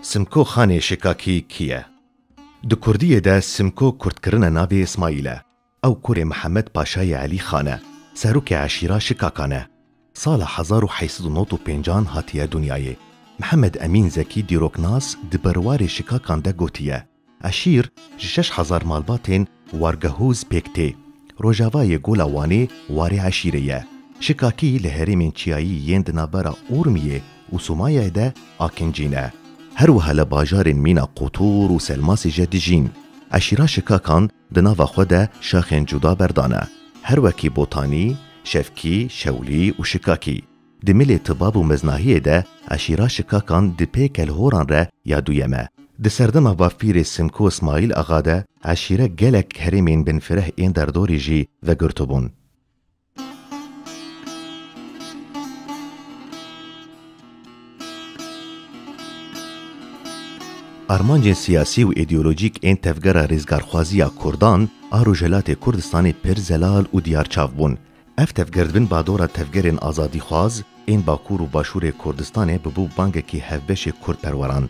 Simko Xanê Şikakî kî ye? Di kurdiyê de Simko kurdkirine navê Îsmaîl e. Ew kurê Mihemed Paşayê Elî Xan e. Serokê eşîra Şikakan e. Sala hezar û heşt sed û nod û pêncan hatiye dinyayê. Mihemed Emîn Zekî dîroknas di berwarê Şikakan de gotiye. Eşîr ji şeş hezar malbatên Wargehûz pêk tê. Rojavayê Gola Wanê warê eşîrê ye. Şikakî li herêmên çiyayî yên di navbera Urmiyê û Sumayayê de akincî ne. Her wiha li bajarên mîna Qutûr û Selmasê je dijîn. Eşîra Şikakan di nava xwe de şaxên cuda berdane. Her wekî Botanî, Şevkî, Şewlî û Şikakî. Di milê tibab û meznahiyê de eşîra Şikakan di pê Kelhoran re ya duyem e. Di serdema Bafîrê Simko Smaîl Axa de eşîre gelek herêmên binfireh ên derdorî jî vegirtibûn. Armancên siyasî û îdeolojîk ên tevgera rêzgarxwaziya kurdan a Rojhilatê Kurdistanê pir zelal û diyarçav bûn. Ev tevgerdbin badora tevgerên azadîxwaz ên Bakur û Başûrê Kurdistanê bibû bangekî hevbeşê kurdperweran.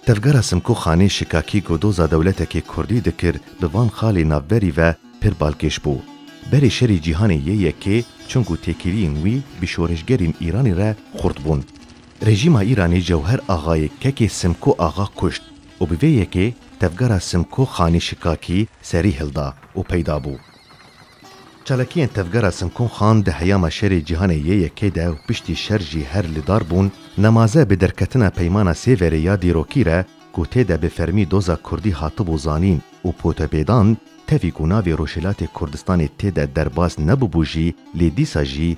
Tevgera Simko Xanê şikakî ku doza dewletekê kurdî dikir bi van xalê navberî ve pir balkêş bû. Berê şerî cîhanê yê yekê çûn ku têkiliyên wî bi şoreşgerên Îranê re xurt bûn. Rejîma Îranê Cewher Axayê kekê Simko Axa kuşt û bi vê yekê tevgera Simko Xanê şikakî serî hilda û peyda bû. Çalakiyên Tevgera Sinkûn Xan di heyama şerê Cîhanê yê Yekê de û piştî şer jî her li dar bûn, nemaze bi derketina Peymana Sêverê ya dîrokî re ku tê de bi fermî doza kurdî hatibû zanîn û potepêdan, tevî ku navê Rojhilatê Kurdistanê tê de derbas nebûbû jî lê dîsa jî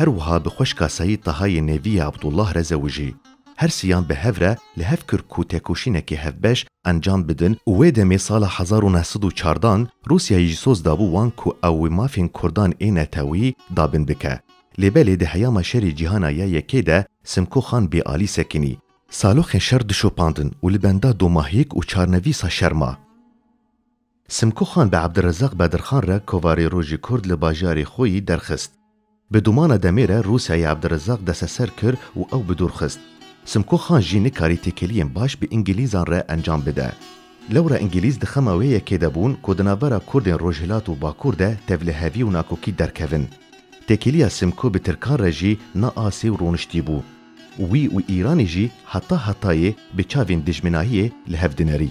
Her wiha bi xweşka Seyîd Tahayê Nêvî yê Abdullah re zewijî. Her siyan bi hev re li hev kir ku têkoşînekê hevbeş encam bidin û wê demê sala hezar û neh sed û çar dan Rûsyayê jî soz dabû wan ku ew wê mafên kurdan ê netewî dabin bike. Lê belê di heyama şerê cîhana ya yekê de Simko Xan bê alî sekinî. Saloxên şer dişopandin û li benda domahiyek û çarnevîsa şer ma. Simko Xan bi Abdurrezzaq Bedirxan re kovarê Rojî Kurd li bajarê xwe yî derxist. Bi domana demê re Rûsyayê Abdurrezzaq desteser kir û ew bi dûr xist. Simko Xan jî nikarî têkiliyên baş bi Îngîlîzan re encam bide. Lewra Îngîlîz di xema wê yekê de bûn ku di navbera Kurdên Rojhilat û Bakur de tevlihevî û nakokî derkevin. Têkiliya Simko bi Tirkan re jî na asê û roniştî bû. Wî û Îranê jî heta hetayê bi çavên dijminahiyê li hev dinerî.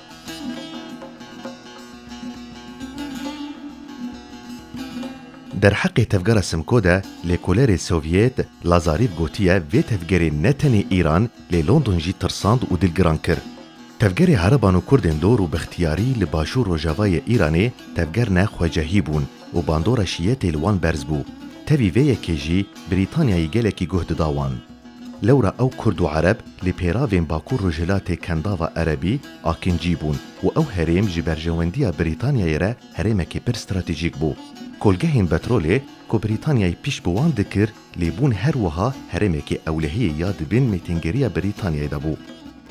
Derheqê tevgera Simco de lêkolerê Sovyêt Lazarîv gotiye vê tevgerê ne tenê Îran lê London jî tirsand û dilgiran kir. Tevgerê hereban û kurdên dor û bixtiyarî li başûr rojavayê Îranê tevger ne xwecehî bûn û bandora şiyetê li wan berz bû. Tevî vê yekê jî Brîtanyayê gelekî guh dida wan. Lewra ew kurd û ereb li pêravên Bakur Rojhilatê Kendava Erebî, Akincî, bûn û ew herêm ji berjewendiya Brîtanyayê re herêmekî pir stratejîk bû. Kolgehên betrolê ku Brîtanyayê pîş bi wan dikir lê bûn her wiha herêmekî ewlehiyê ya di bin mêtingeriya Brîtanyayê de bû.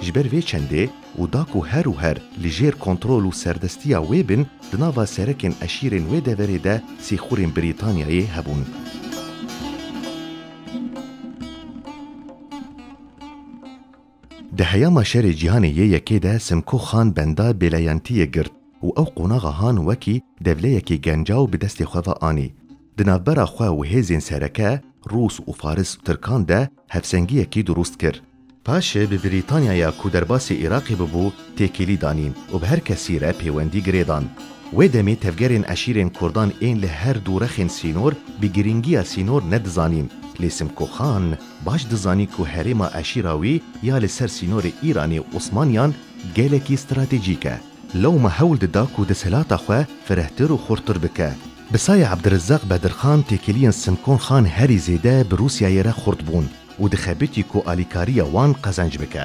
Ji ber vê çendê û da ku her û her li jêr kontrol û serdestiya wê bin, di nava serekên eşîrên wê deverê de sîxurên Brîtanyayê hebûn. Di heyama şerê cîhanê yê yekê de Simko Xan benda Bêleyentiyê girt û ew qonaxa Han wekî devleyekî gencaw bi destê xwe ve anî. Di navbera xwe û hêzên sereke, Rûs û Faris Tirkan de hevsengiyekî durust kir. Paşê bi Brîtanyaya ku derbasî Iraqê bibû têkilî danîn û bi her kesî re pêwendî girêdan. Wê demê tevgerên eşîrên Kurdan ên li her du rexên sînor bi girîngiya sînor nedizanîn. Lê Simko Xan baş dizanî ku herêma eşîra wî ya li ser sînorê Îranê û Osmaniyan gelekî stratejîk e. Lewma hewl dida ku desthilata xwe firehtir û xurttir bike. Bi saya Abdirezzaq Bedirxan têkiliyên Simkon Xan herî zêde bi Rûsyayê re xurt bûn û dixebitî ku alîkariya wan qezenc bike.